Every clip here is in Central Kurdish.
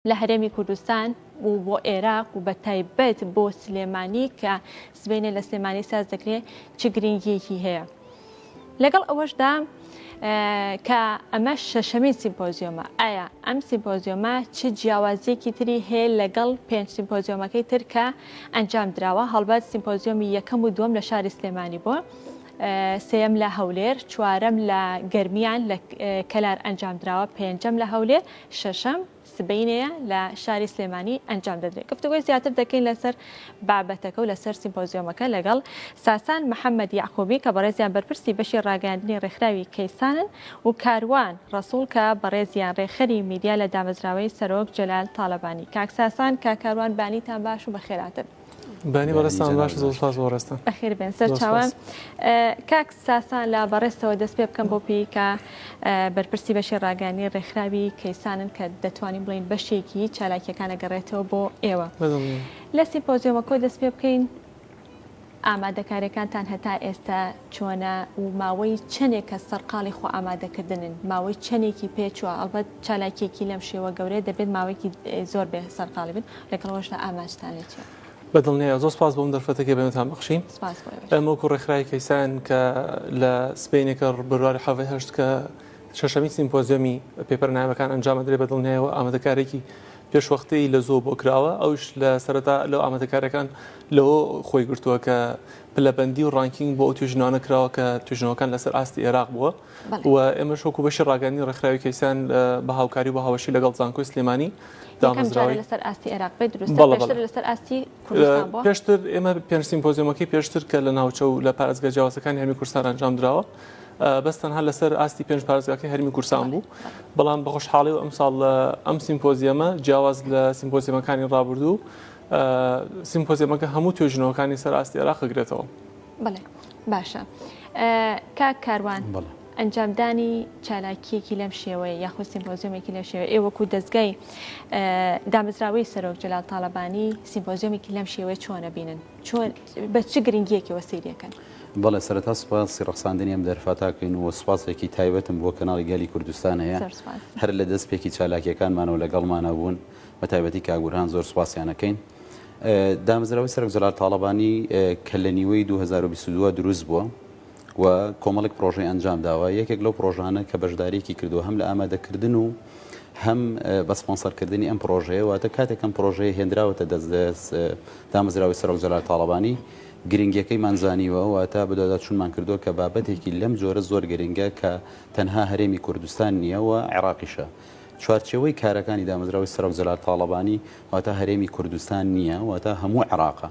لە هەرێمی کوردستان و بۆ ئێراق و بە تایبەت بۆ سلێمانی کە سبەینێ لە سلێمانی ساز دەکرێت چ گرنگیەکی هەیە لەگەڵ ئەوەشدا کە ئەمە شەشەمین سیمپۆزیۆمە ئایا ئەم سیمپۆزیۆمە چ جیاوازیەکی تری هەیە لەگەڵ پێنج سیمپۆزیۆمەکەی تر کە ئەنجام دراوە هەڵبەت سیمپۆزیۆمی یەکەم و دووەم لە شاری سلێمانی بووە سێم لە هەولێر چوارەم لە گەرمیان لە کەلار ئەنجام دراوە پێنجەم لە هەولێر شەشەم، سبەینێیە لە شاری سلێمانی ئەنجام دەدرێت. گفتوگۆی زیاتر دەکەین لەسەر بابەتەکە و لەسەر سیمپۆزیۆمەکە لەگەڵ ساسان محەمەد یەعقوبی کە بەڕێزیان بەرپرسی بەشی ڕاگەیاندنی ڕێکخراوی کەیسانن و کاروان ڕەسوڵ کە بەڕێزیان ڕێکخەری میدیا لە دامەزراوەی سەرۆک جەلال تاڵەبانی. کاک ساسان، کاک کاروان بانیتان باش و بەخێرهاتن. بەێنی بەڕێستان باش زۆر سپاس بۆ ڕێستان بەخێر بێن سەر چاوان کاک ساسان لە بەڕێستەوە دەست پێ بکەم بۆ پیکە بەرپرسی بەشی ڕاگەانی ڕێکخراوی کەیسانن کە دەتوانین بڵین بەشێکی چالاکیەکانە گەڕێتەوە بۆ ئێوە لە سیمپۆزیۆمە کۆ دەست پێ بکەین ئامادەکارەکانتان هەتا ئێستا چۆنە و ماوەی چەندێک کە سەرقاڵی خۆ ئامادەکردنن ماوەی چەندێکی پێچوە ئەڵبەت چالاکیەکی لەم شێوە گەورەیە دەبێت ماوەیەکی زۆر بێ سەرقاڵی بن لەگەڵ ئەوەشدا ئاماجتان لە چیە؟ بە دڵنیایە زۆر سپاس بۆم دەرفەتە کە بەێنتان بخشین سپاس بۆ ئێوەش. ئەمەکو ڕێکخراوی کەیسان کە لە سبەینێکە بەرواری حەڤی هەشت کە شەشەمین سیمپۆزیۆمی پێپەرە نایابەکان ئەنجام ئەدرێ بە دڵنیایەوە ئامادەکارێکی پێشوەختەی لە زۆ بۆ کراوە ئەوش لە سەرەتا لەو ئامادەکارەکان لەوە خۆی گرتووە کە پلەبەندی و ڕانکینگ بۆ ئەو توێژینەوانە کراوە کە توێژینەوەکان لەسەر ئاستی عێراق بووە و ئێمەش وەکو بەشی ڕاگەیاندنی ڕێکخراوی کەیسان بە هاوکاری و بە هاوبەشی لەگەڵ زانکۆی سلێمانی یەکەم جارە لەسەر ئاستی عێراق بێت دروست بەڵێ، بەڵێ. پێشتر لەسەر ئاستی کوردستان بووە؟ پێشتر ئێمە پێنج سیمپۆزیۆمەکەی پێشتر کە لە ناوچە و لە پارێزگا جیاوازەکانی هەرێمی کوردستان ئەنجام دراوە ئا، بەس تەنها لەسەر ئاستی پێنج پارێزگاکەی هەرێمی کوردستان بوو، بەڵام بە خۆشحاڵی و ئەمساڵ ئەم سیمپۆزیەمە جیاواز لە سیمپۆزیەمەکانی ڕابردوو ئا، سیمپۆزیەمەکە هەموو توێژینەوەکانی سەر ئاستی عێراق ئەگرێتەوە. بەڵێ. باشە کاک کاروان ئەنجامدانی چالاکیەکی لەم شێوەیە یاخود سیمپۆزیۆمێکی لەم شێوە ئێ وەکو دەستگای دامەزراوەی سەرۆک جلال تاالبانی سیمپۆزیۆمێکی لەم شێوەیە چۆنە بینن چۆن بە چ گرنگیەکی وەسیریەکەن بەڵێ سەرتا سپاسی ڕخساندنی ئەم دەرفاتاکەین و سوپاسێکی تایبەتم بۆ کەناڵی گەلی کوردستان هەیە هەر لە دەست پێکی چالاکیەکانمانەوە لەگەڵمانە بوون بە تایبەتی کاگورهان زۆر سوپاسیانەکەین. دامەزراوەی سەرۆک جەلال تاڵەبانی کە لە نیوەی دوو هەزار و بیست و دوو دروست بووە و کۆمەڵێک پرۆژەی ئەنجام داوە یەکێک لەو پرۆژانە کە بەشداریکی کردو هەم لە ئامادەکردن و هەم بە سپۆنسەرکردنی ئەم پرۆژەیە واتە کاتێکم پرۆژەیە هێنراوەتە دەست دەست دامەزراوەی سەرۆک جەلال تاڵەبانی گرنگیەکەیمان زانیوە و تا بدادا چونمان کردووە کە بابەتێکی لەم جۆرە زۆر گرنگە کە تەنها هەرێمی کوردستان نییە و عێراقیشە چوارچێوەی کارەکانی دامەزراوەی سەرۆک جەلال تاڵەبانی واتە هەرێمی کوردستان نییە واتە هەموو عێراقە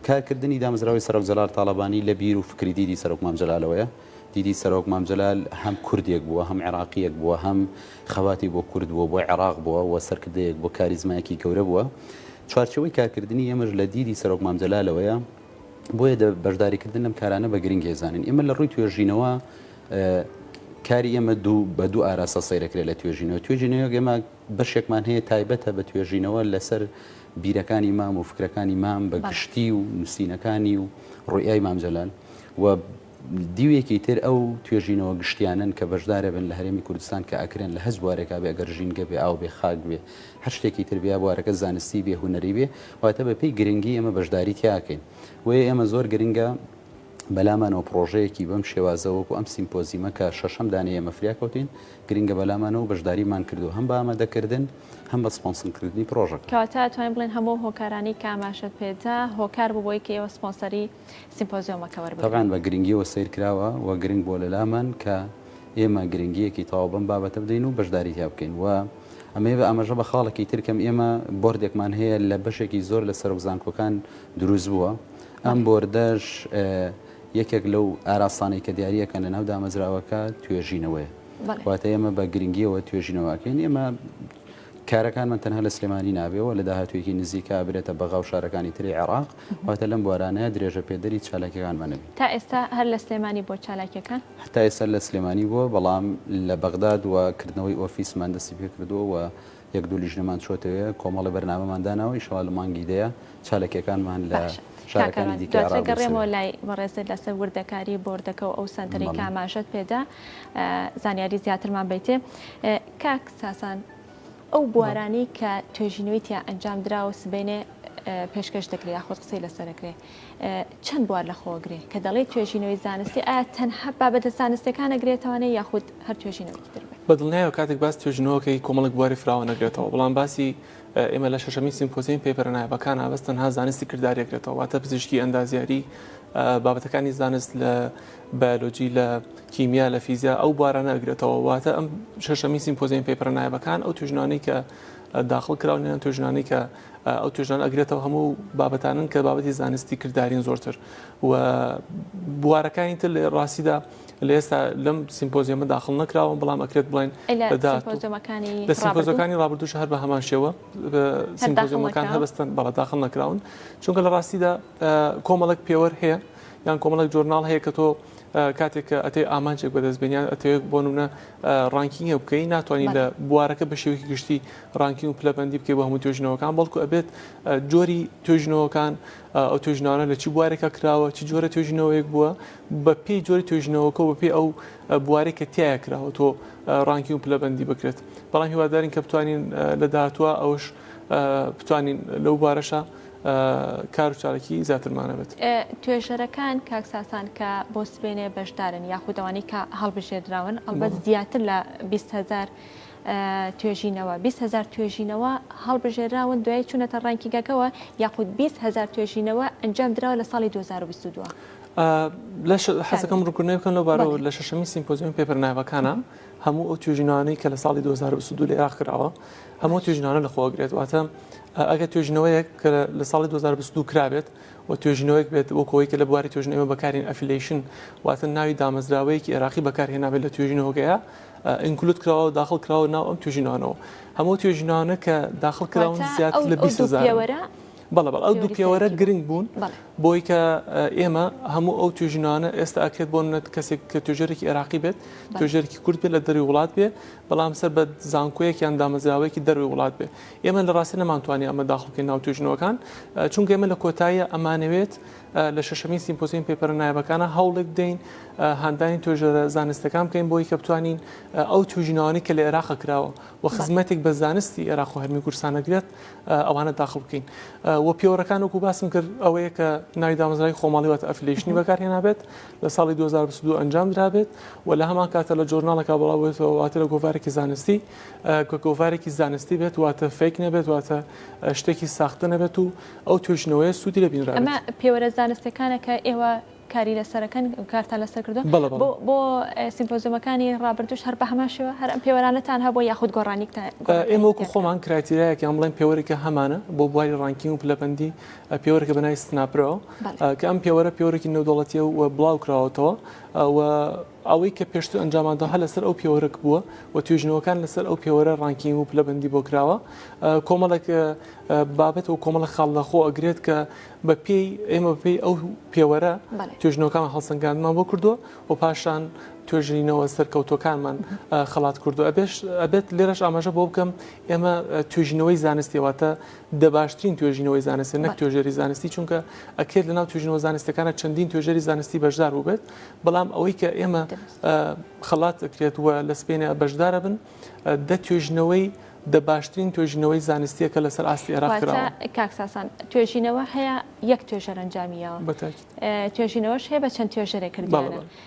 کارکردنی دامەزراوەی سەرۆک جەلال تاڵەبانی لە بیر و فکری دیدی سەرۆک مام جەلالەوەیە دیدی سەرۆک مام جەلال هەم کوردێک بووە هەم عێراقیەک بووە هەم خەواتی بۆ کورد بووە بۆ عێراق بووە و سەرکردەیەک بۆ کاریزمایەکی گەورە بووە چوارچەوەی کارکردنی ئێمەش لە دیدی سەرۆک مام جەلالەوەیە بۆیە بەشداریکردن لەم کارانە بە گرنگ هێزانین ئێمە لە ڕووی توێژینەوە کاری ئێمە دوو بە دوو ئاراستە سەیرەکرێت لە توێژینەوە توێژینەوە گەمە بەشێکمان هەیە تایبەتە بە توێژینەوە لەسەر بیرەکانی مام و فکرەکانی مام بە گشتی و نووسینەکانی و ڕوئای مامجلال و دیوێکی تر ئەو توێژینەوە گشتیانن کە بەشدارە بن لە هەرێمی کوردستان کە ئەکرێن لە هەز بوارێکا بێ گەر ژینگە بێ ئاو بێ خاک بێ هەر شتێکی تر بیا بوارەکە زانستی بێ هوەری بێ واتە بە پێی گرنگی ئەمە بەشداری تیاکەین وە ئێمە زۆر گرنگە بەلامانەوە پڕۆژەیەکی بەم شێوازە وەکو ئەم سیمپۆزیمە کە شەشەم دانەی ئێمە فریا کەوتین گرنگە بەلامانەوە بەشداریمان کردووە هەم بە ئامادەکردن هەم بە سپۆنسنکردنی پڕۆژەکە. کەواتە توانین بڵێن هەموو ئەو هۆکارانەی کە ئاماژەت پێ دا هۆکار بوو بۆی کە ئێوە سپۆنسەری سیمپۆزیۆمەکە وەربگرن. تەبعەن بە گرنگیەوە سەیر کراوە و گرنگ بووە لەلامان کە ئێمە گرنگیەکی تەواو بەم بابەتە بدەین و بەشداری تیا بکەین و ئەمەی بە ئاماژە بە خاڵێکی تر کەم ئێمە بۆردێکمان هەیە لە بەشێکی زۆر لە سەرۆک زانکۆکان دروست بووە ئەم بۆردەش یەکێک لەو ئاراستانەی کە دیارییەکەن لە ناو دامەزراوەکە توێژینەوەیە واتە ئێمە بە گرنگیەوە توێژینەوەکەین ئێمە کارەکانمان تەنها لە سلێمانی نابێەوە لە داهاتوێکی نزیکا برێتە بەغا و شارەکانی تری عێراق واتە لەم بوارانەیە درێژە پێدەری چالاکەکانمانە تا ئێستا هەر لە سلێمانی بۆ چالاکیەکان هەتا ئێستا لە سلێمانی بووە بەڵام لە بەغداد و کردنەوەی ئۆفیسمان دەستی پێ کردووە یەک دوو لیژنەمان چۆتەوێ کۆمەڵێ بەرنامەمان داناوە ئیشەڵا لە مانگی دەیە چالەکیەکانمان لە باشە کاک شارەکانی ئارام دیکە دواتر ئەڕا گەڕێمەوە بنوسێ. لای بەڕێزت لەسەر وردەکاری بۆردەکە و ئەو سەنتەرەی کە بەڵێ. ئاماژەت پێدا ئە زانیاری زیاترمان بەیتێ ئە کاک ساسان ئەو بەڵێ. بوارانەی کە توێژینەوەی تیا ئەنجام دراوە سبەینێ ئە پێشکەش دەکرێ یاخود قسەی لەسەر ئەکرێ چەند بوار لەخۆگرێ کە دەڵێی توێژینەوەی زانستی ئایا تەنها بابەتە زانستیەکان ئەگرێتەوانێ یاخود هەر توێژینەوەکی تر بێ؟ بە دڵنیایەوە کاتێک باس توێژینەوەکەی کۆمەڵێک بواری فراوان ئەگرێتەوە بەڵام باسی ئێمە لە شەشەمین سیمپۆزیەم پێپەرە نایە بەکان ئابەست تەنها زانستی کرداری ئەگرێتەوە واتە پزیشکی ئەندازیاری بابەتەکانی زانست لە بایلۆجی لە کیمیا لە فیزیا ئەو بارانە ئەگرێتەوە واتە ئەم شەشەمین سیمپۆزیەم پێپەرە نایە بەکان ئەو توێژنانەی کە داخڵ کراونیان توێژنانی کە ئەو توێژانە ئەگرێتەوە هەموو بابەتانن کە بابەتی زانستی کردارین زۆرتر و بوارەکانی تر لە ڕاستیدا لە ئێستا لەم سیمپۆزیەمە داخل نەکراوە بەڵام ئەکرێت بڵێن لە سیمپۆزەکانی ڕابردوش هەر بە هەمان شێوە سیمپۆزیەمەکان هەبستن بەڵە داخل نەکراون چونکە لە ڕاستیدا کۆمەڵک پێوەەر هەیە یان کۆمەڵک جۆرناڵ هەیە کە تۆ کاتێک کە ئەتێ ئامانجێک بەدەست بێنیان ئەتەوێت بۆ نمونە ڕانکینگە بکەی ناتوانانی لە بوارەکە بە شێوەی گشتی ڕانکینگ و پلەبندی بکەی بە هەموو توێژنەوەکان بەڵکو ئەبێت جۆری توێژنەوەکان ئەو توێژناوە لە چی بوارێکە کراوە چی جۆرە توێژنەوەیەک بووە بە پێی جۆری توێژنەوەکە بە پێی ئەو بوارێک کە تایە کراوە تۆ ڕانکی و پلەبندی بکرێت بەڵام هیوادارین کە بتوانین لە داهاتوە ئەوش بتوانین لەو بارەشە کار و چالاکی زیاترمان هەبێت. توێژەرەکان کاک ساسان کە بۆ سبەینێ بەشدارن یاخود ئەوانەی کە هەڵبژێردراون ئەڵبەت زیاتر لە بیست هەزار توێژینەوە بیست هەزار توێژینەوە هەڵبژێراون دوای چوونەتە ڕانکینگەکەوە یاخود بیست هەزار توێژینەوە ئەنجام دراوە لە ساڵی 2022. لەش حەزەکەم ڕوونکردنەوەی بکەم لەو بارەوە لە شەشەمین سیمپۆزیۆمی پێپەر نایابەکانە هەموو ئەو توێژینەوانەی کە لە ساڵی 2022 لە عێراق کراوە هەموو توێژینەوانە لە خۆگرێت واتە ئەگە توێژنەوەیەک کە لە ساڵی 2022 کرابێت و توێژنەوەیەک بێت وەکەوەی کە لە بواری توێژنەوە بەکارین ئەفیلیشن واتە ناوی دامەزراوەیەکی عێراقی بەکارهێنابێت لە توێژینەوەگەیە ئینکلوت کراوە و داخل کراوە ناو ئەم توێژینانەوە هەموو توێژینانە کە داخل کراون زیاتر لە 20 زارەوەرە بەڵە بەڵ ئەو دوو پێوەرە گرنگ بوون بۆی کە ئێمە هەموو ئەو توێژینانە ئێستا ئەکرێت بۆ نەت کەسێک کە توێژەرێکی عێراقی بێت توێژەرکی کورد بێت لە دەری وڵات بێ بەڵام سەر بە زانکۆیەک یان دامەزراوەیەکی دەرەوەی وڵات بێت ئێمە لە ڕاستی نەمانتوانی ئەمە داخڵ بکەین ناو توێژینەوەکان چونکە ئێمە لە کۆتاییە ئەمانەوێت لە شەشەمین سیمپۆزیۆن پێپەرە نایابەکانە هەوڵێک بدەین هاندانی توێژەرە زانستەکان بکەین بۆی کە بتوانین ئەو توێژینەوانەی کە لە عێراق کراوە و خزمەتێک بە زانستی عێراق و هەرمی کورسانەگرێت ئەوانە داخڵ بکەین و پێوەڕەکان وەکو باسم کرد ئەوەیە کە ناوی دامەزرای خۆماڵیوات ئەفلیشنی بەکارهێنابێت لە ساڵی دوو هەزار و بیست و دوو ئەنجام درابێت و لە هەمان کاتە لە جۆرناڵەکە بڵاو بێتەوە واتە لە گۆڤارێکی زانستی کە گۆڤارێکی زانستی بێت واتە فیک نەبێت واتە شتێکی ساختە نەبێت و ئەو توێژینەوەیە سوودی لە بینرا ئەمە پێوەرە زانستەکانە کە ئێوە کاری لەسەرەکەن کارتان لەسەر کردو بەڵێ بەڵێ بۆ سیمپۆزیۆمەکانی ڕابردوش هەر بە هەمان شێوە هەر ئەم پێوەرانەتان هەبوو یاخود گۆڕانیکتان ئێمە وەکو خۆمان کرایتیرایەکیان بڵێن پێوەرێکە هەمانە بۆ بواری ڕانکینگ و پلەبەندی پێوەرێکە بە ناوی سناپرۆ کە ئەم پێوەرە پێوەرێکی نێودەوڵەتیە و بڵاو کراوەتەوە و ئەوەی کە پێشتر ئەنجاماندا هە لەسەر ئەو پێوەرەک بووە و توێژنەوەکان لەسەر ئەو پێوەرە ڕانکینگ و پلەبندی بۆ کراوە کۆمەڵێک بابەت و کۆمەڵە خاڵ لەخۆ ئەگرێت کە بە پێی ئێمە پێی ئەو پێوەرە توێژنەوەکان هەڵسەنگاندمان بۆ کردووە و پاشان توێژینەوە سەرکەوتوەکانمان خەڵات کردو ئەبێت لێرەش ئاماژە بۆ بکەم ئێمە توێژینەوەی زانستیواتە دە باشترین توێژینەوەی زانستە نەک توێژەری زانستی چونکە ئەکرێت لەناو توێژینەوە زانستەکانە چەندین توێژەری زانستی بەشدار بووبێت بەڵام ئەوەی کە ئێمە خەڵات دەکرێت وە لە سپێنە بەشدارە بن دە توێژینەوەی دە باشترین توێژینەوەی زانستیە کە لەسەر ئاستی عێراق کاکساسان توێژینەوە هەیە یەک توێژەرەنجامیەوە توێژینەوەش هەیە بە چەند توێژەرێک کردوانە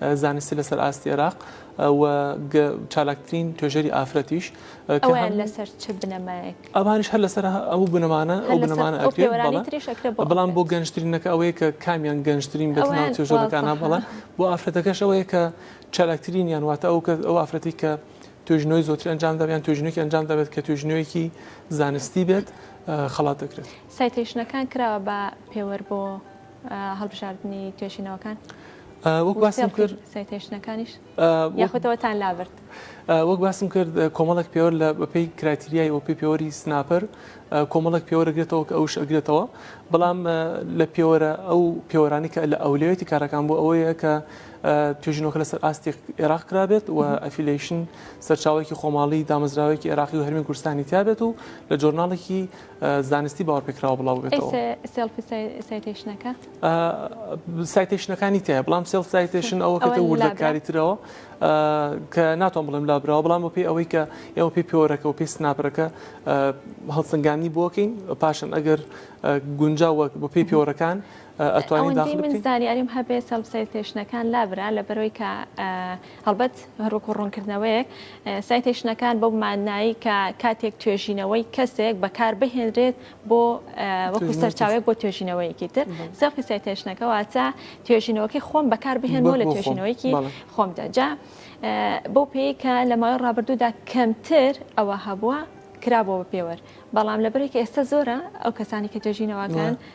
زانستی لەسەر ئاستی عێراق و چالاکترین توێژەری ئافرەتیش ئەویان لەسەر چ بنەمایەک ئەوانش هەر لەسەر ئەو بنەمانە ئەو بنەمانە بەڵام بۆ گەنجترینەکە ئەوەیە کە کامیان گەنجترین بە توێژەکانە بەڵام بۆ ئافرەتەکەش ئەوەیە کە چالاکترین یان واتە ئەو کە ئەو ئافرەتی کە توێژنەوەی زۆتر ئەنجام دابیان توێژنێکی ئەنجام دەبێت کە توێژنەوەیەکی زانستی بێت خڵات دەکرێت سایتیشنەکان کراوە بە پێوەەر بۆ هەڵبژاردنی توێژینەوەکان وەک باسم کرد سایتێشنەکانیش یاخوتەوەتان لابرد وەک باسم کرد کۆمەڵک پێوەر لە بەپی کراتریای ئۆپی پێوەری سناپەر کۆمەڵک پێوەرەگرێتەوە کە ئەوش ئەگرێتەوە بەڵام لە پێوەرە ئەو پێوەرانی کە لە ئەولێتی کارەکان بۆ ئەوەیە کە توێژینەوەکە لەسەر ئاستی عێراق کرابێت و ئەفیلیشن سەرچاوێکی خۆماڵی دامەزراوێکی عێراقی و هەرمی کوردستانی تابێت و لە جۆرناڵێکی زانستی باوەڕپێکراوە بڵاوببێتەوە. ئەی سێڵفی سایتەیشنەکە؟ سایتەیشنەکانی تایە بڵام سێڵف سایتەیشن ئەوە کەتە وردەکاری ترەوە کە ناتۆم بڵێم لابراوە بڵام بەپی ئەوەی کە ئێوە پێی پێوەرەکە و پێی سناپەرەکە هەڵسەنگانی بۆکەین پاشن ئەگەر گونجا وەک بە پێی پێوەرەکان ئەتوانین داخل من زانیاریم هەبێ سێڵف سایتەیشنەکان لابرا لە بەرەوەی کە هەڵبەت هەر وەکو ڕوونکردنەوەیەک، سایتەیشنەکان بەو ماننایەی کە کاتێک توێژینەوەی کەسێک بەکار بهێنرێت بۆ وەکو سەرچاوێک بۆ توێژینەوەیەکی تر، سێڵفی سایتەیشنەکە واتە توێژینەوەکەی خۆم بەکار بهێنمەوە لە توێژینەوەیەکی خۆمدا. جا بەو پێیەی کە لە ماوەی ڕابردوودا کەمتر ئەوە هەبووە کرابووە بە پێوەر، بەڵام لەبەرەی کە ئێستا زۆرە ئەو کەسانی کە توێژینەوەکەن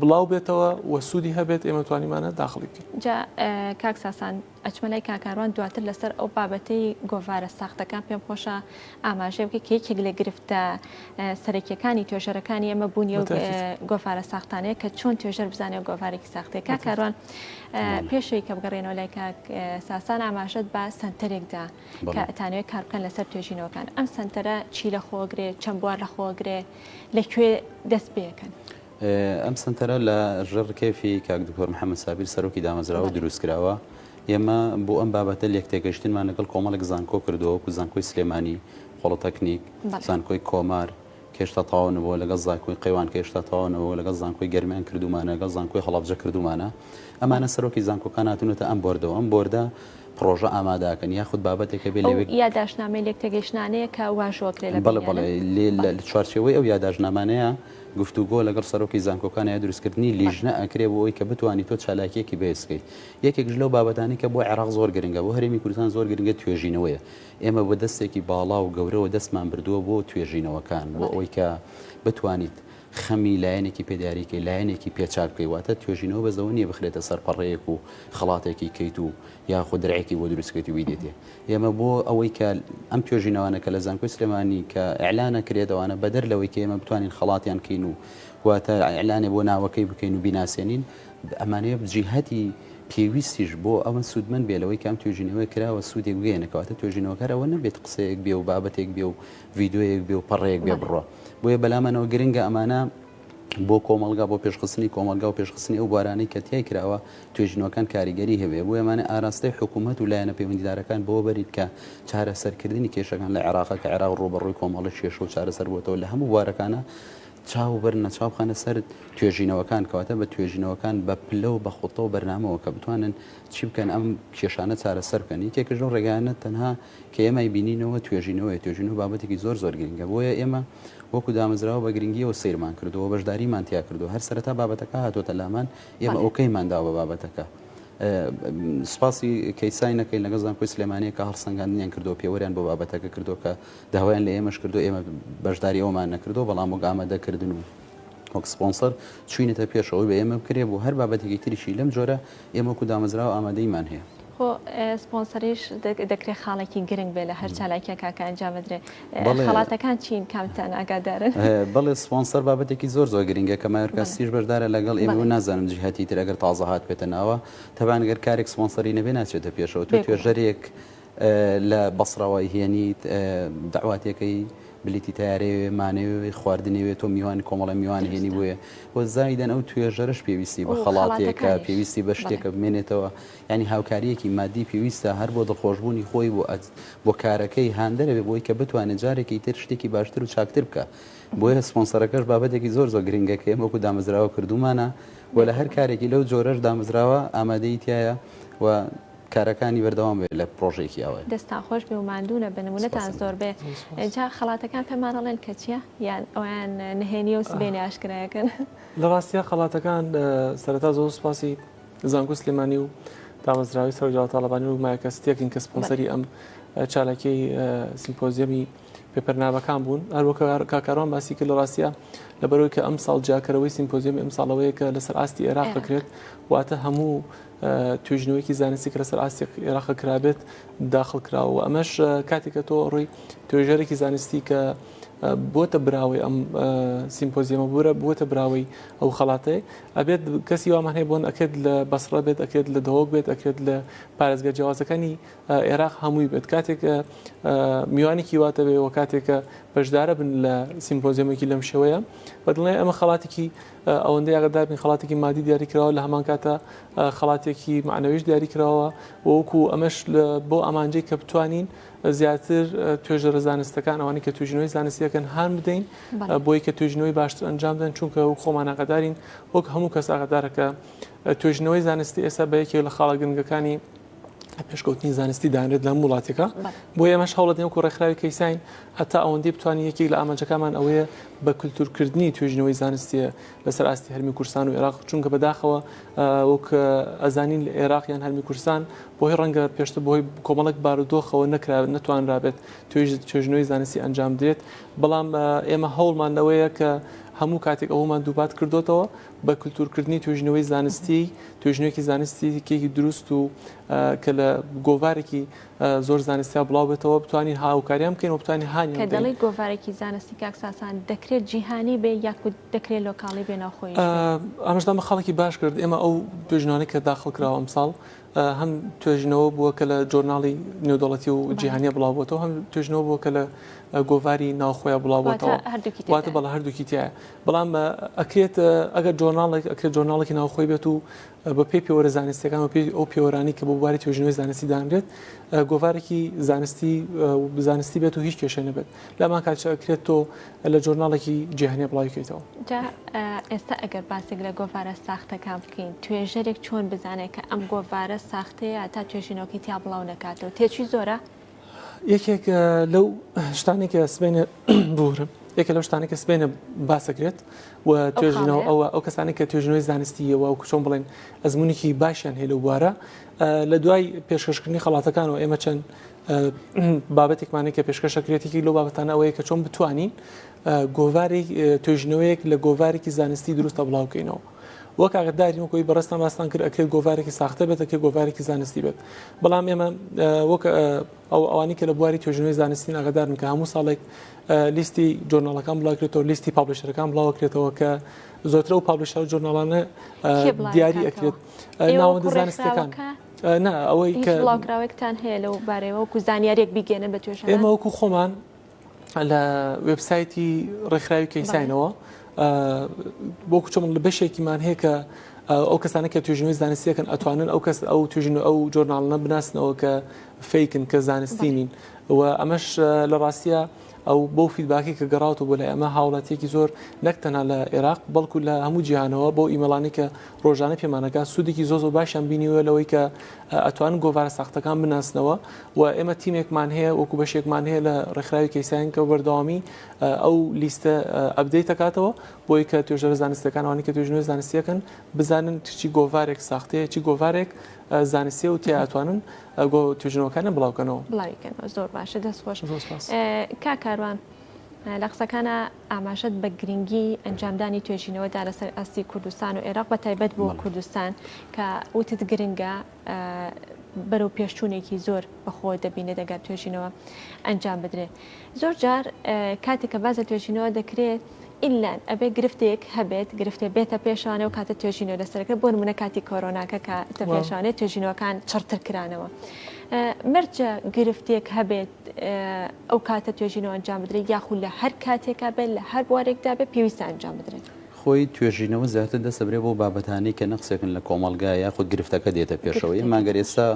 بڵاو بێتەوە و سوودی هەبێت ئێمە توانیمانە داخڵی بکەین. جا کاک ساسان ئەچمە لای کاکاروان دواتر لەسەر ئەو بابەتەی گۆڤارە ساختەکان پێم خۆشە ئاماژەی بکەیت کە یەکێک لە گرفتە سەرەکیەکانی توێژەرەکانی ئێمە بوونی و گۆڤارە ساختانەیە کە چۆن توێژەر بزانێت گۆڤارێکی ساختەیە کاکاروان پێشەوەی کە بگەڕێنەوە لای کاک ساسان ئاماژەت بە سنتەرێکدا کە ئەتانوێت کاربکەن لەسەر توێژینەوەکان ئەم سنتەرە چی لە خۆگرێ چەند بوار لە خۆگرێ لە کوێ دەست پێکەن؟ ئەم سەنتەرە لە ژێڕ کێفی کاک دکتۆر محەممەد سابیر سەرۆکی دامەزراوە دروست کراوە ئێمە بۆ ئەم بابەتە لێک تێگەشتنمان لەگەڵ کۆمەڵێک زانکۆ کردەوە و زانکۆی سلێمانی خۆڵتەکنیک زانکۆی کۆمار کێشتا تاوانەوە لەگەڵ زانکۆی قەیوان کێشتا تاوانەوە لەگەڵ زانکۆی گەرمیان کردومانەگەڵ زانکۆی هەڵبجە کردومانە ئەمانە سەرۆکی زانکۆکان هاتونەتە ئەم بردەوە ئەم بۆردە پڕۆژە ئاماداکەن یاخود بابەتێک هەبێت ئەو لەوێ یاداشتنامەی لێکتێگەیشتنانەیە کە واژۆ کرێ لە بەڵێ بەڵێ بەینیانن لێ لە بەڵێ. چوارچێوەی ئەو یاداشتنامانەیە گفتوگۆ لەگەڵ سەرۆکی زانکۆکان یا دروستکردنی بەڵێ. لیژنە ئەکرێ بۆ ئەوەی کە بتوانی تۆ چالاکیەکی بەهێز کەی یەکێکش لەو بابەتانەی کە بۆ عێراق زۆر گرنگە بۆ هەرێمی کوردستان زۆر گرنگە توێژینەوەیە ئێمە بە دەستێکی باڵا و گەورەوە دەستمان بردووە بۆ توێژینەوەکان بۆ بەڵێ. ئەوەی کە بتوانیت خەمی لایەنێکی پێ دیاری کەی لایەنێکی پێ چاک بکەی واتە توێژینەوە بەس لەوە نیە بخرێتە سەر پەڕەیەک و خەڵاتێکی کەیت و یاخود درعێکی بۆ دروست کەیت و بیدەیتێ ئێمە بۆ ئەوەی کە ئەم توێژینەوانە کە لە زانکۆی سلێمانی کە ئیعلان ئەکرێت ئەوانە بەدەر لەوەی کە ئێمە بتوانین خەڵاتیان کەین و واتە ئیعلانێ بۆ ناوەکەی بکەین و بیناسێنین ئەمانەیە جیهەتی پێویستیش بۆ ئەوە سوودمەند بێ لەوەی کام توێژینەوە کراوە سوودێک بگەێنە کەواتە توێژینەوەکەر ئەوە نەبێت قسەیەک بێ و بابەتێک بێ و ڤیدیۆیەک بێ و پەڕەیەک بێ بڕوا بۆیە بەلامانەوە گرنگە ئەمانە بۆ کۆمەڵگا بۆ پێشخستنی کۆمەلگا و پێشخستنی ئەو بوارانەی کە تیای کراوە توێژینەوەکان کاریگەری هەبێ بۆیە ئەمانە ئاراستەی حکوومەت و لایەنە پەیوەندیدارەکان بەوە بەرین کە چارەسەرکردنی کێشەکان لە عێراقە کە عێراق ڕووبەڕووی کۆمەڵە کێشە و چارەسەر بۆتەوە لە هەموو بوارەکانە چاو بەر نەچاو بخەنە سەر توێژینەوەکان کەواتە بە توێژینەوەکان بە پلە و بە خۆتەوە بەرنامەوە کە بتوانن چی بکەن ئەم کێشانە چارەسەر بکەن یەکێکش لەو ڕێگانە تەنها کە ئێمە ئەیبینینەوە توێژینەوەیە، توێژینەوە بابەتێکی زۆر زۆر گرنگە، بۆیە ئێمە وەکو دامەزراوە بە گرنگییەوە سەیرمان کردووە و بەشداریمان تیا کردووە، هەر سەرەتا بابەتەکە هاتۆتە لامان ئێمە ئۆکەیمان داوە بە بابەتەکە، سوپاسی کەیساین ئەکەین لەگەڵ زانکۆی سلێمانییە کە هەڵسەنگاندنیان کردووە پێوەریان بۆ بابەتەکە کردووە کە داوایان لە ئێمەش کردووە، ئێمە بەشداری ئەومان نەکردووە بەڵام وەک ئامادەکردن و وەک سپۆنسەر چووینەتە پێش ئەوەی بە ئێمە بکرێ بۆ هەر بابەتێکی تریشی لەم جۆرە ئێمە وەکو دامەزراوە ئامادەیمان هەیە. خۆ سپۆنسەریش دەکرێت خاڵێکی گرنگ بێت لە هەر چالاکیەکە کە ئەنجام بدرێت. خەڵاتەکان چین کامتان ئاگادارن؟ بەڵێ سپۆنسەر بابەتێکی زۆر زۆر گرنگە کە مایۆرکا سیتیش بەشدارە لەگەڵ ئێمە و نازانم جیهەتی تر ئەگەر تازە هاتبێتە ناوە. تەبان گەر کارێک سپۆنسەری نەبێت ناچێتە پێشەوە. تۆ توێژەرێک لە بەسڕە وای هێنیت دەعواتێکەی بلیتی تەیارەیەوێ مانەوێ خواردنێوێ تۆ میوان کۆمەڵە میوان هێنی بۆێ وە زایدەن ئەو توێژەرش پێویستی بە خەڵاتێکە پێویستی بە شتێکە بمێنێتەوە ینی هاوکاریەکی مادی پێویستە هەر بۆ دڵخۆشببوونی خۆی بۆ ئەت بۆ کارەکەی هاندەرەێ بۆی کە بتوانێت جارێکی تر شتێکی باشتر و چاکتر بکە بۆیە سپۆنسەرەکەش بابەتێکی زۆر زۆر گرنگەکەی وەکو دامەزراوە کردومانە و لە هەر کارێکی لەو جۆرەش دامەزراوە ئامادەیتیایە و کارەکانی بەردەوام بێت لە پرۆژێکی ئەوەی. دەستتان خۆش بێ و ماندوو نەبن و نەتان زۆر بێ. جا خەڵاتەکان پێمان ئەڵێن کە چییە؟ یان ئەویان نهێنییە و سبەینێ ئاشکرای ئەکەن؟ لە ڕاستیا خەڵاتەکان سەرەتا زۆر سوپاسی زانکۆی سلێمانی و دامەزراوەی سەرۆک جەڵال تاڵەبانی و مایکە ستیەکین کە سپۆنسەری ئەم چالاکیی سیمپۆزیەمی پێپەرنابەکان بوون هەر وەک کاکاروان باسی کرد لە ڕاستە لەبەرەوەی کە ئەم ساڵ جیاکەرەوەی سیمپۆزیەمی ئەم ساڵەوەیە کە لەسەر ئاستی عێراق بکرێت واتە هەموو توێژینەوەیەکی زانستی کە لەسەر ئاستی عێراق کرابێت داخل کراوە ئەمەش کاتێکە تۆ ڕووی توێژەرێکی زانستی کە بۆتە براوەی ئەم سیمپۆزیەمە بورە بووتە براوەی ئەو خڵاتێ ئەبێت کەسی وامان هەیە بۆن ئەکرێت لە بەسڕە بێت ئەکرێت لە دەوەک بێت ئەکرێت لە پارێزگە جیازەکانی عێراق هەمووی بێت کاتێک میوانێکی واتە بێ و کاتێکە بەشدارە بن لە سیمپۆزیەمێکی لەم شێوەیە بەدڵێ ئەمە خڵاتێکی ئەوەندەی ئاگادار بین خەڵاتێکی مادی دیاری کراوە لە هەمان کاتە خەڵاتێکی معنەویش دیاری کراوە وەکو ئەمەش بۆ ئامانجەی کە بتوانین زیاتر توێژەرە زانستەکان ئەوانی کە توژنەوەی زانستیەکەن هان بدەین بۆی کە توێژنەوەی باشتر ئەنجام بدەن چونکە و خۆمان ئاگادارین وەک هەموو کەس ئاگادارەکە توێژنەوەی زانستی ئێستا بە یەکێک لە خاڵە گرنگەکانی پێشکەوتنی زانستی دانرێت لەم وڵاتێکە بۆ ئێمەش هەوڵەت نێوکو ڕێکخراوی کەیسین ئەتا ئەوەندی بتوانین یەکێک لە ئامانجەکەمان ئەوەیە بە کللتورکردنی توێژنەوەی زانستیە لەسەر ئاستی هەرمی کورسان و عێراق چونکە بەداخەوە وەک ئەزانین لە عێراقیان هەرمی کورسان بۆی ڕەنگە پێشتە بۆی کۆمەڵک بارودۆخەوە نەکرا نتوانرابێت توێژ توێژنەوەی زانستی ئەنجام درێت بەڵام ئێمە هەوڵمانەوەیە کە هەموو کاتێک ئەومان دووبات کردوتەوە بە کلتورکردنی توێژینەوەی زانستی، توێژینەوەیەکی زانستیی دروست و کە لە گۆڤارێکی زۆر زانستیا بڵاو بێتەوە بتوانین هاوکاریان بکەین و بتوانین هانی کە دەڵی گۆڤارێکی زانستی کاک ساسان دەکرێت جیهانی بێ یاخود دەکرێت لۆکاڵی بێ ناوخۆی ئامژدامە خاڵێکی باش کرد ئێمە ئەو توێژنانە کە داخڵ کراوە ئەمساڵ هەم توێژینەوە بووە کە لە جۆرناڵی نێودەڵەتی و جیهانیە بڵاوبتەوە هەم توێژنەوە بووە کە لە گۆڤاری ناوخۆیان بڵاوبتەوە واتە بەڵ هەردووکی تایە بەڵام ئەکرێت ئەگەر جۆرناڵێک ئەکرێت جۆرناڵێکی ناوخۆی بێت و بە پێی پێوەرە زانستەکان و پێی ئەو پێوەرانی کە بۆ بواری توێژنەوەی زانستی دانرێت گۆڤارێکی زانستی زانستی بێت و هیچ کێشە نەبێت لەمان کاتچەکرێت تۆ لە جۆرناڵێکی جیهانێ بڵاوی کەیتەوە. جا ئێستا ئەگەر باسێک لە گۆڤارە ساختەکان بکەین توێژەرێک چۆن بزانێت کە ئەم گۆڤارە ساختەیە تا توێژینەوەکەی تیا بڵاو نکاتەوە تێچوی زۆرە یەکێک لەو شتانێکە سبێنە بورم یەکە لەو شتانێکە سبێنە باسەکرێت و توێژینەوە ئەوە ئەو کەسانێک کە توێژنەوەی زانستیەوە و کوچۆن بڵێن ئەزمونێکی باشیان هەیە لە بوارە لە دوای پێشکەشکردنی خڵاتەکان و ئێمە چەند بابەتێکمان هەیە کە پێشکەش دەکرێت، یەکێک لەو بابەتانە ئەوەیە کە چۆن بتوانین گۆڤاری توێژینەوەیەک لە گۆڤارێکی زانستی دروستە بڵاو بکەینەوە. وەک ئاگداری وەکۆی بەڕستان باستان کرد ئەکرێت گۆڤارێکی ساختە بێت ئەکرێت گۆڤارێکی زانستی بێت بەڵام ئێمە وەک ئەو ئەوانی کە لە بواری توێژنەوەی زانستی ئاگدارن کە هەموو ساڵێک لیستی جۆرناڵەکان بڵاکرێتەوە لیستی پاپلشەرەکان بڵاوکرێتەوە کە زۆترە و پاپلشە و جۆرناڵانە دیاری ئەکرێت ناوەندە زانستەکان. نا ئەوەی کە بڵاوکراوێکتان هەیە لەو بارەوە وکو زانیارێک بیگەێنن بە توێژ ئێمە وەکو خۆمان لە وبسایتی ڕێکخراوی کەیساینەوە بۆ کوچە من لە بەشێکیمان هەیە کە ئەو کەسانە کە توێژنەوەی زانستیەکەن ئەتوانن ئەو کەس ئەو توژن ئەو جۆرناالنە بناسنەوە کە فیکن کە زانستی نین و ئەمەش لە ڕاستە ئەو بەو فیدباکی کە گەڕاوەوە بۆ لای ئەمە هاوڵاتیەکی زۆر نەک تەنها لە عێراق بەڵکو لە هەموو جیهانەوە بۆ ئیمەڵانی کە ڕۆژانە پێمانەکە سوودێکی زۆ زۆر باشیان بینیوە لەوەی کە ئەتوان گۆڤارە ساختەکان بناسنەوە و ئێمە تیمێکمان هەیە وەکو بەشێکمان هەیە لە ڕێکخراوی کەیسان کە بەردەوامی ئەو لیستە ئەبدەی تکاتەوە بۆی کە توێژەرە زانستەکانوانی کە توێژنوێ زانستیەکەن بزانن چی گۆڤارێک ساختەیە چی گۆڤارێک زانستێ و تیاتوانن ئەگۆ توژنەوەکانە بڵاو کەنەوە بڵاوی کەنەوە زۆر باشە دەست خۆش کا کاروان لە قسەکانە ئاماژەت بە گرنگی ئەنجامدانی توێژینەوەدا لەسەر ئاستی کوردستان و عێراق بە تایبەت بۆ کوردستان کە وتت گرنگە بەرەو پێشچوونێکی زۆر بەخۆ دەبینێت دەگات توێژینەوە ئەنجام بدرێت زۆر جار کاتێک کە باس لە توێژینەوە دەکرێت ئیللا ئەبێ گرفتێک هەبێت گرفتێ بێتە پێشانەوە کاتە توێژینەوە لەسەرەکە بۆ نمونە کاتی کۆرۆناکە کە تە پێشانێت توێژینەوەکان چڕتر کرانەوە مەرجە گرفتێک هەبێت ئەو کاتە توێژینەوە ئەنجام بدرێت یاخود لە هەر کاتێکا بێت لە هەر بوارێکدا بێت پێویستە ئەنجام بدرێت. خۆی توێژینەوە زیاتر دەسەبرێ بۆ بابەتانی کە نەقسێکن لە کۆمەلگا یاخود گرفتەکە دێتە پێشەوەی ماگەر ئێستا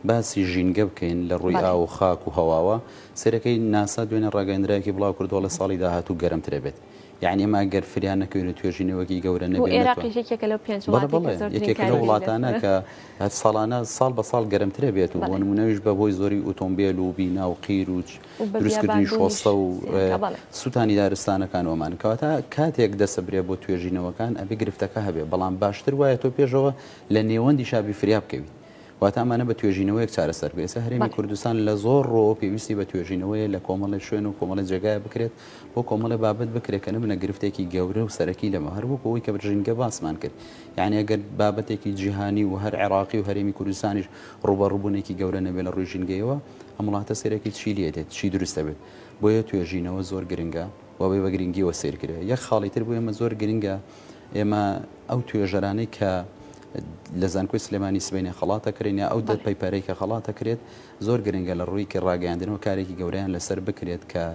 باسی ژینگە بکەین لە ڕووی ئاو و خاک و هەواوە سەرەکەی ناسا دوێنێ ڕاگەیەندراوێکی بڵاوکردەوە ڵە ساڵی داهاتوو گەرمترە بێت یانی ئەمە گەر فریا نەکەوین و توێژینەوەکی گەورە نەبێت نەتوان بۆ ئێراقیش یەکێکە لەو پێنج بەڵێ وڵاتەی کە بەڵێ زۆرترین یەکێکە لەو کاریگەری وڵاتانە لەسەرە کە هەر ساڵانە ساڵ بە ساڵ گەرمترە بێت و بۆ بەڵێ نموونەش بە هۆی زۆری ئوتۆمبێل و بینا و قیر و و بە دروستکردنی بیابانبوونیش شۆستە و زیاترە بەڵێ سووتانی دارستانەکان ومان کەواتە کاتێک دەسەبرێ بۆ توێژینەوەکان ئەبێ گرفتەکە هەبێ بەڵام باشتر وایە تۆ پێشەوە لە نێوەندیشا بی فریا بکەوی. واتە ئەمانە بە توێژینەوەیەک چارەسەر بێت ئێستا هەرێمی کوردستان لە زۆر ڕۆ پێویستی بە توێژینەوەیە لە کۆمەڵی شوێن و کۆمەڵی جێگایە بکرێت بۆ کۆمەڵی بابەت بکرێت کە نبنە گرفتێکی گەورە و سەرەکی لەمە هەر وەک ئەوەی کە برژینگە باسمان کرد یعنی ئەگەر بابەتێکی جیهانی و هەر عێراقی و هەرێمی کوردستانیش ڕوبە ڕوبوونێکی گەورە نەبێت لە ڕووی ژینگەیەوە ئەم وڵاتە سێرەکی چی لێ دێت چی دروستە بێت بۆیە توێژینەوە زۆر گرنگە وەبێ بە گرنگیەوە سیرکرێ یەک خاڵی تر بوو ئێمە زۆر گرنگە ئێمە ئەو توێژەرانەی کە لە زانکۆی سلێمانی سبەینێ خەڵات دەکرێن یا ئەو دەر پەیپەرەی کە خەڵات دەکرێت زۆر گرنگە لە ڕووی کە ڕاگەیاندنەوە کارێکی گەوریان لەسەر بکرێت کە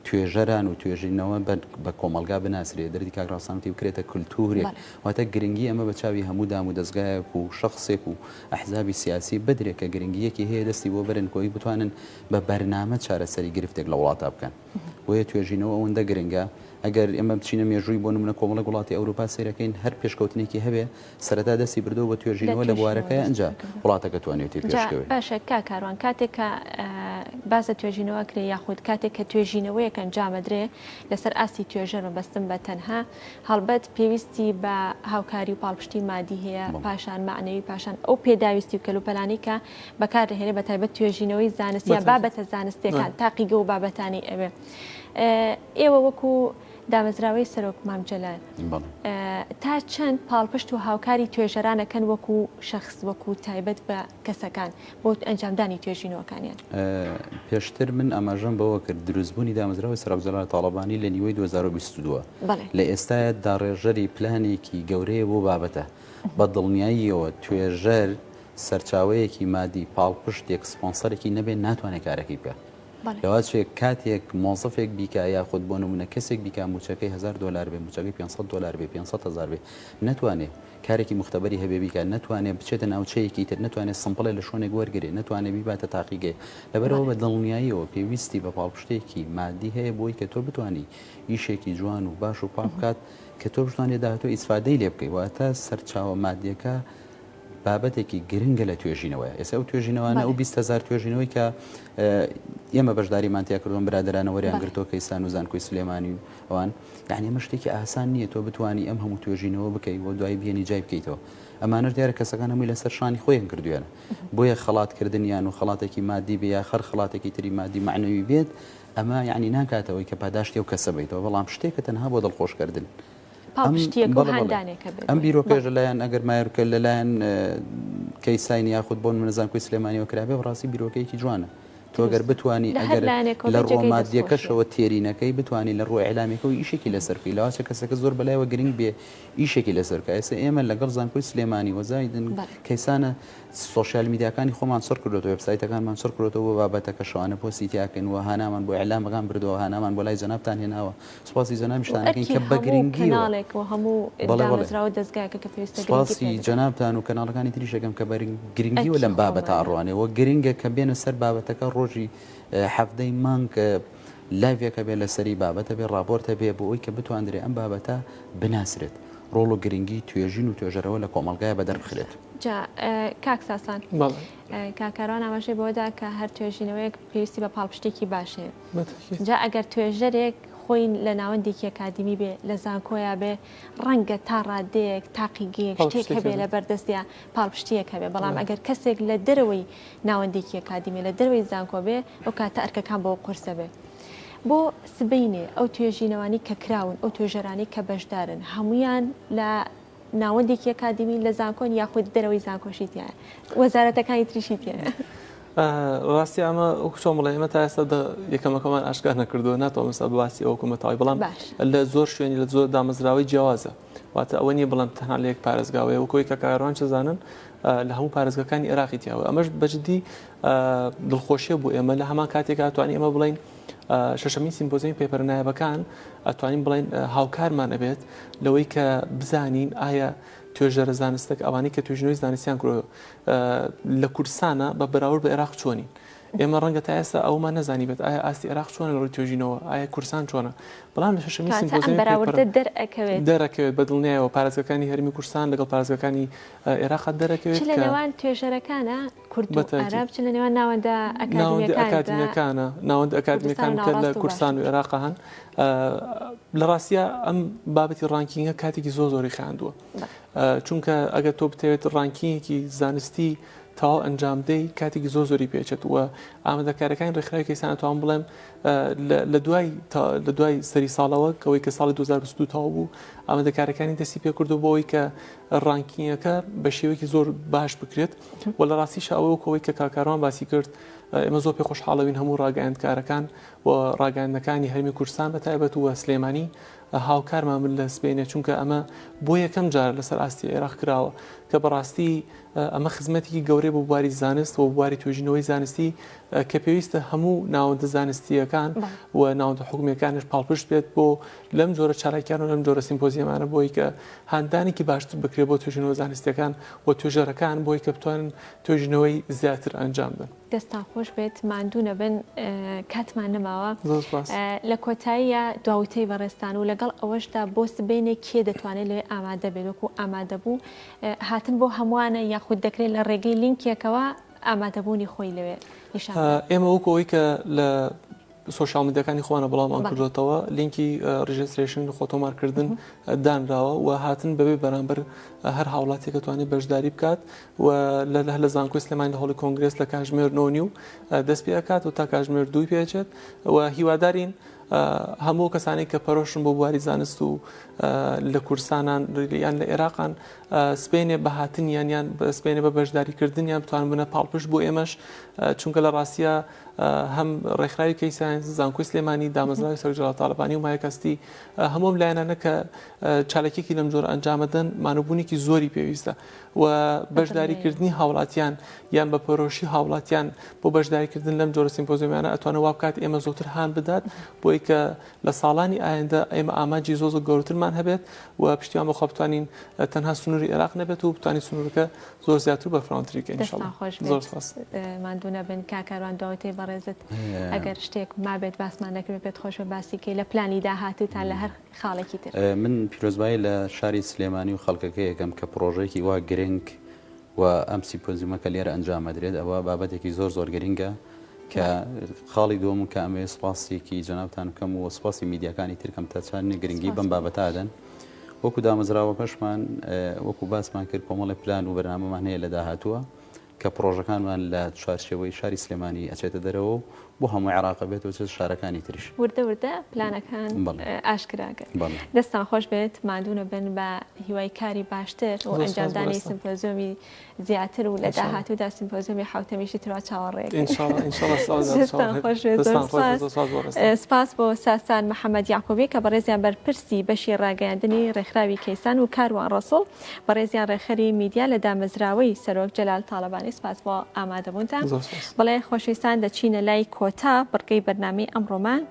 توێژەران و توێژینەوە بە کۆمەلگا بناسرێ دەردی کاکڕاستانتی بکرێتە کللتورێک واتە گرنگی ئەمە بە چاوی هەموو دام و دەستگایەک و شخصێک و ئەحزابی سیاسی بدرێت کە گرنگیەکی هەیە دەستی بۆ برن کۆی بتوانن بە بەرنامە چارەسەری گرفتێک لە وڵاتا بکەن. بۆیە توێژینەوە ئەوەندە گرنگە. ئەگەر ئێمە بچینە مێژووی بۆ نموونە کۆمەڵێک وڵاتی ئەوروپا سەیرەکەین هەر پێشکەوتنێکی هەبێ سەرەتا دەستی بردووە بە توێژینەوە لە بوارەکە ئەنجا وڵاتەکە توانیوێتی پێشکەوێ. باشە کاک کاروان کاتێک کە باس لە توێژینەوە کرێ یاخود کاتێک کە توێژینەوەیەک ئەنجامەدرێ لەسەر ئاستی توێژەر مەبەستم بە تەنها هەڵبەت پێویستی بە هاوکاری و پاڵپشتی مادی هەیە پاشان مەعنەوی پاشان ئەو پێداویستی و کەلوپەلانەی کە بەکار دەهێنێت بە تایبەت توێژینەوەی زانستیە بابەتە زانستیەکان تاقیگە و بابەتانی ئەوێ ئێوە وەکو دامەزراوەی سەرۆک مامجلال تا چەند پاڵپشت و هاوکاری توێژەرانەکەن وەکو شخص وەکو تایبەت بە کەسەکان بۆ ئەنجامدانی توێژینەوەکانیان پێشتر من ئاماژەم بەوە کرد دروستبوونی دامەزراوی سەرۆکجلال تاالبانی لە نیوەی 2022 لە ئێستاە داڕێژەری پلانێکی گەورەیە بۆ بابەتە بە دڵنیاییەوە توێژەر سەرچاوەیەکی مادی پاڵپشتێک سپۆنسەرێکی نەبێت ناتوانێت کارەکەی بکات لەوەچێ کاتێک مۆزەفێک بیکە یاخود بۆ نمونە کەسێک بیکە موچەکەی هزار دلار بێ موچەکەی 500 دلار بێ 500 هزار بێ نتوانێت کارێکی مختبەری هەبێ بیکە نتوانێت بچێتە ناوچەیەکی تر نتوانێت سمپڵێ لە شوێنێک وەرگێ نتوانێت بیباتە تاقیگەی لەبەرەوە بە دڵنیاییەوە پێویستی بە پاڵپشتێکی مادی هەیە بۆی کە تۆ بتانی ئیشێکی جوان و باش و پاکات کە تۆ بتوانێت داهاتۆ ئیسفادەی لێ بکەی واتە سەرچاوە مادیەکە بابەتێکی گرنگە لە توێژینەوەیە ئێستا ئەو توێژینەوانە ئەو بیست هەزار توێژینەوەی کە ئێمە بەشداریمان تیا کردوون برادرانە وەریان گرتۆکە ئیسان و زانکۆی سلێمانی و ئەوان یعنی ئەمە شتێکی ئاسان نییە تۆ بتانی ئەم هەموو توێژینەوە بکەی و دوای بینی جای بکەیتەوە ئەمانەش دیارە کەسەکان هەمووی لەسەر شانی خۆیان کردوێنە بۆیە خەڵاتکردنیان و خەڵاتێکی مادی بێ یا خەر خەڵاتێکی تری مادی معنەوی بێت ئەمە یعنی ناکاتەوەی کە پاداشتی و کەسە بیتەوە بەڵام شتێکە تەنها بۆ دڵخۆشکردن پاڵپشتییەکە و هاندانێکە بێت. بەڵێ بەڵێ ئەم بیرۆکەیش لەلایەن ئەگەر مایەر کە لەلایەن کەیساین یاخود بۆ نموونە زانکۆی سلێمانییەوە کرابێ بەڕاستی بیرۆکەیەکی جوانە. تۆ گەر بتوانی ئەگەر لە ڕووە مادییەکەشەوە تێری نەکەی بتوانی لە ڕووە ئیعلامییەکەوە ئیشێکی لەسەر بکەی لاوەچە کەسەکە زۆر بەلایەوە گرینگ بێ ئیشێکی لەسەر بکا. ئێستا ئێمە لەگەڵ زانکۆی سلێمانی و زایدن کەیسانە سۆشیال میدیاکانی خۆمان چڕ کردۆتەوە وێبسایتەکانمان چڕ کرۆتەوە بۆ بابەتەکە شەوانە پۆستی تیا کەین و هانامان بۆ ئیعلامەکان بردووە هانامان بۆ لای جەنابتان هێناوە سپاسی جەنابی شتان دەکەین کە بە گرنگیەوە بەڵێ بەڵێ سپاسی جەنابتان و کەناڵەکانی تریش دەکەم کە بە گرنگیەوە لەم بابەتە ئەڕوانێ وە گرنگە کە بێنە سەر بابەتەکە ڕۆژی حەفدەی مانگ لایڤێکە بێ لەسەری بابەتە بێ ڕاپۆرتە بێ بۆ ئەوی کە بتواندرێ ئەم بابەتە بناسرێت ڕۆڵ و گرنگی توێژین و توێژەرەوە لە کۆمەلگای بە دەربخرێت کاک ساسان کاکاران ئاماژەی بۆدا کە هەر توێژینەوەیەک پێویستی بە پاڵپشتێکی باشێ جا ئەگەر توێژەرێک خۆی لە ناوەندێکی ئەکادیمی بێ، لە زانکۆیا بێ، ڕەنگە تا ڕادەیەک، تاقیگەیەک، شتێک هەبێ لە بەر دەستیا، پاڵپشتییەک هەبێ، بەڵام ئەگەر کەسێک لە دەرەوەی ناوەندێکی ئەکادیمی، لە دەرەوەی زانکۆ بێ، ئەو کاتە ئەرکەکان بۆ ئەو قورسە بێ. بۆ سبەینێ ئەو توێژینەوانەی کە کراون، ئەو توێژەرانەی کە بەشدارن، هەموویان لە ناوەندێکی ئەکادیمی لە زانکۆن یاخود دەرەوەی زانکۆشی تایە وەزارەتەکانی تریشی تێن ڕاستی ئەمە چۆن بڵێ ئمە تا ئێستا یەکەمەکەمان ئاشکار نەکردو ناتەوە مسا باسی ئەو کومەتەوەی بڵام لە زۆر شوێنی لە زۆر دامەزراوەی جیاوازە واتە ئەوە نیە بڵم تەنها لە یەک پارێزگاوەیە و کۆی کە کاروان چزانن لە هەموو پارێزگەکانی عێراقی تیاوە ئەمەش بەجددی دڵخۆشیە بۆ ئێمە لە هەمان کاتێکاتوانی ئمە بڵین شەشەمین سیمپۆزیەمی پێپەرە نایابەکان ئەتوانین بڵێن هاوکارمان ئەبێت لەوەی کە بزانین ئایا توێژەرە زانستەکە ئەوانەی کە توێژنەوەی زانستیان کرۆ لە کوردستانە بە بەراورد بە عێراق چۆنین ئێمە ڕەنگە تا ئێستا ئەومان نەزانی بێت ئایا ئاستی عێراق چۆنە لەڕی توێژینەوە ئایا کورسان چۆنە بەڵام لە شەشەمی سیمپۆزیەم دەرەکەوێت دەرەکەوێت بە دڵنیایەوە پارێزگەکانی هەرمی کورسان لەگەڵ پارێزگەکانی عێراق دەرەکەوێت لەوان توێژەرەکانە کورد و عەرەب چ لە نێوان ناوەندە ئەکادیمیەکانە ناوەند ئەکادمیەکان کە لە کوردستان و عێراق هەن لە ڕاستە ئەم بابەتی ڕانکینگە کاتێکی زۆ زۆری خاندووە چونکە ئەگەر تۆ بتەوێت ڕانکینگێکی زانستی تاو ئەنجامدەی کاتێکی زۆ زۆری پێچێت وە ئامادەکارەکانی ڕێکخراوی کەسان توان بڵێم لە دوای لە دوای سەری ساڵەوە کەەوەی کە ساڵی 2022 تاو بوو ئامادەکارەکانی دەستی پێکردو بۆەوەی کە ڕانکینگەکە بە شێوەیەکی زۆر باش بکرێت و لە ڕاستیشا ئەوە وەکو ئەوەی کە کاک کاروان باسی کرد ئێمە زۆر پێ خۆشحاڵەوین هەموو ڕاگەیاندکارەکان و ڕاگەیاندنەکانی هەرێمی کوردستان بە تایبەت و سلێمانی هاوکارمان بن لە سبەینێ چونکە ئەمە بۆ یەکەم جار لەسەر ئاستی عێراق کراوە کە بەڕاستی ئەمە خزمەتێکی گەورەی بۆ بواری زانست و بواری توێژینەوەی زانستی کە پێویستە هەموو ناوەندە زانستیەکان و ناوەندە حکومیەکانش پاڵپشت بێت بۆ لەم جۆرە چالاکیان و لەم جۆرە سیمپۆزیەمانە بۆی کە هاندانێکی باشتر بکرێت بۆ توێژینەوە زانستیەکان و توێژەرەکان بۆی کە بتوانن توێژینەوەی زیاتر ئەنجام بدەن. دەستان خۆش بێت ماندوو نەبن کاتمان نەماوە لە کۆتاییە دواوتەی بەڕێستان و لەگەڵ ئەوەشدا بۆ سبینێک کێ دەتوانێت لێ ئامادە بێت وەکو ئامادە بوو هاتن بۆ هەمووانە یاخود دەکرێت لە ڕێگەی لینکێکەوە ئامادەبوونی خۆی لەوێ ئێمە وەکەوەی کە لە سۆشیاڵ میدیاکانی خۆمانە بڵاومان کردۆتەوە لینکی ڕیژسترێشن خۆ تۆمار کردن دانراوە و هاتن بەبێ بەرامبەر هەر هاوڵاتێکە توانێت بەشداری بکات و لە لە لە زانکۆی سلێمانی لە هەڵی کۆنگرس لە کاژمێر نۆنی و دەست پێ ئەکات و تا کاژمێر دووی پێچێت و هیوادارین هەموو کەسانی کە پەرۆشن بۆ بواری زانست و لە کورسانان یان لە عێراقان سپێنێ بە هاتنیان یان سپێنێ بە بەشداریکردنیان بتوان بنە پاڵپشت بۆ ئێمەش چونکە لە ڕاستە هەم ڕێکخراوی کەی ساینس زانکۆی سلێمانی دامەزراوی سەرۆک جەڵال تاڵەبانی و مایەکەستی هەموو ئەم لایەنانە کە چالاکیەکی لەم جۆر ئەنجامەدەن مانوبوونێکی زۆری پێویستە و بەشداریکردنی هاوڵاتیان یان بە پەرۆشی هاوڵاتیان بۆ بەشداریکردن لەم جۆرە سیمپۆزیمانە ئەتوانە وا بکات ئێمە زۆتر هان بدات بۆی کە لە ساڵانی ئایندە ئێمە ئامانجی زۆ زۆ گەورترمان هەبێت و پشتیان بەخوا بتوانین تەنها سنووری عێراق نەبێت و بتوانین سنوورەکە زۆر زیاتر بە فراونتری کە دەستان خۆش زۆر سپاس ماندوو نەبن کا کاروان داوەتەی بەڕێزت ئەگەر شتێک مابێت باسمان نەکرد پێت خۆشە باسی کەی لە پلانی داهاتوتان لە هەر خاڵێکی تر من پیرۆزبایی لە شاری سلێمانی و خەڵکەکە یەکەم کە پرۆژێکی وا گرنگ و ئەم سیپۆزیمە کە لێرە ئەنجامەدرێت ئەوە بابەتێکی زۆر زۆر گرنگە کە خاڵی دوم کە ئەمێ سپاسێکی جەنابان بکەم و سپاسی میدیەکانی ترکەم تەچان گرنگی بم بابەتادەن. وەکو دامەزراوەکەشمان وەکو باسمان کرد کۆمەڵێ پلان و بەرنامەمان هەیە لە داهاتووە کە پڕۆژەکانمان لە چوارچێوەی شاری سلێمانی ئەچێتە دەرەوە و بۆ هەموو عێراق بێت و چێت شارەکانی تریش وردە وردە پلانەکان ئاشکراگەن دەستان خۆش بێت مادوونە بن بە هیوای کاری باشتر و ئەنجامدانی سمپۆزیۆمی زیاتر و لە داهاتوودا سیمپۆزیۆمی حوتەمیشی تروا چاوەڕێکەکەین سپاس بۆ ساسان محەممەد یاقوبی کە بەڕێزیان بەرپرسی بەشی ڕاگەیاندنی ڕێکخراوی کەیسان و کاروان ڕسوڵ بەڕێزیان ڕێکخەری میدیا لە دامەزراوەی سەرۆک جەلال تاالبانی سپاس بۆ ئامادەبوونتان بڵێ خۆشویستان دەچینە لای کۆتا بڕگەی بەرنامی ئەمڕۆمان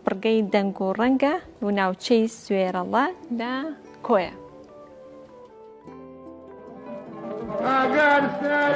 بڕگەی دەنگ و ڕەنگە و ناوچەی سوێرەڵە لە کۆیە.